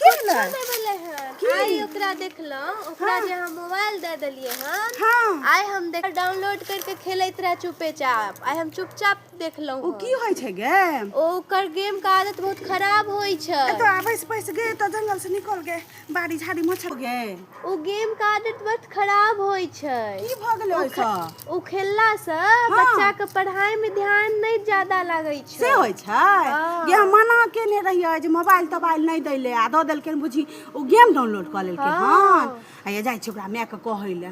की भेलै नहि भेलै हन की? आइ ओकरा देखलहुँ ओकरा जे हम मोबाइल दे देलियै हन हँ आइ हम देख डाउनलोड करके खेलैत रहे चुपे चाप आइ हम चुपचाप देखलहुँ ओ हन। की होइ छै गे ओ ओकर गेम के आदत बहुत खराब होइ छै एतऽ आबै से पैस गे एतऽ जंगल से निकल गे बाड़ी झाड़ी मच्छर गे ओ गेम के आदत बहुत खराब होइ छै की भऽ गेलै ओ खे- ओहिसँ ओ खेलला से बच्चा के पढ़ाई में ध्यान नहीं ज्यादा लगे से छै होइ छै हँ। जे हम मना केने रहियै जे मोबाइल तोबाइल नहि दै ले आ दऽ देलकै बुझी ओ गेम डाउनलोड कऽ लेलकै हँ। हन आ ये जाइ छै ओकरा माय के कहै ले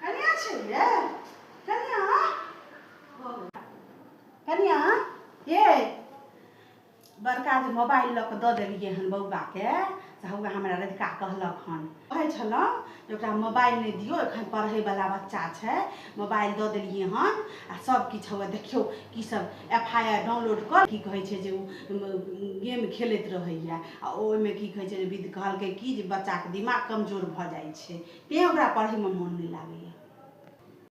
कनिया छै ये कनिया कनिया ये बड़का जे मोबाइल लऽ कऽ दऽ देलियै हन बौआके से हौआ हमरा रधिका कहलक हन कहै छलहुँ जे ओकरा मोबाइल नहि दियौ एखन पढ़ैवला बच्चा छै मोबाइल दऽ देलियै हन आ सभकिछु हौआ देखियौ की सब एफ आई आर डाउनलोड कऽ की कहै छै जे गेम खेलैत रहैए आ ओहिमे की कहै छै जे विद कहलकै की जे बच्चाके दिमाग कमजोर भऽ जाइ छै तैँ ओकरा पढ़ैमे मोन नहि लागैए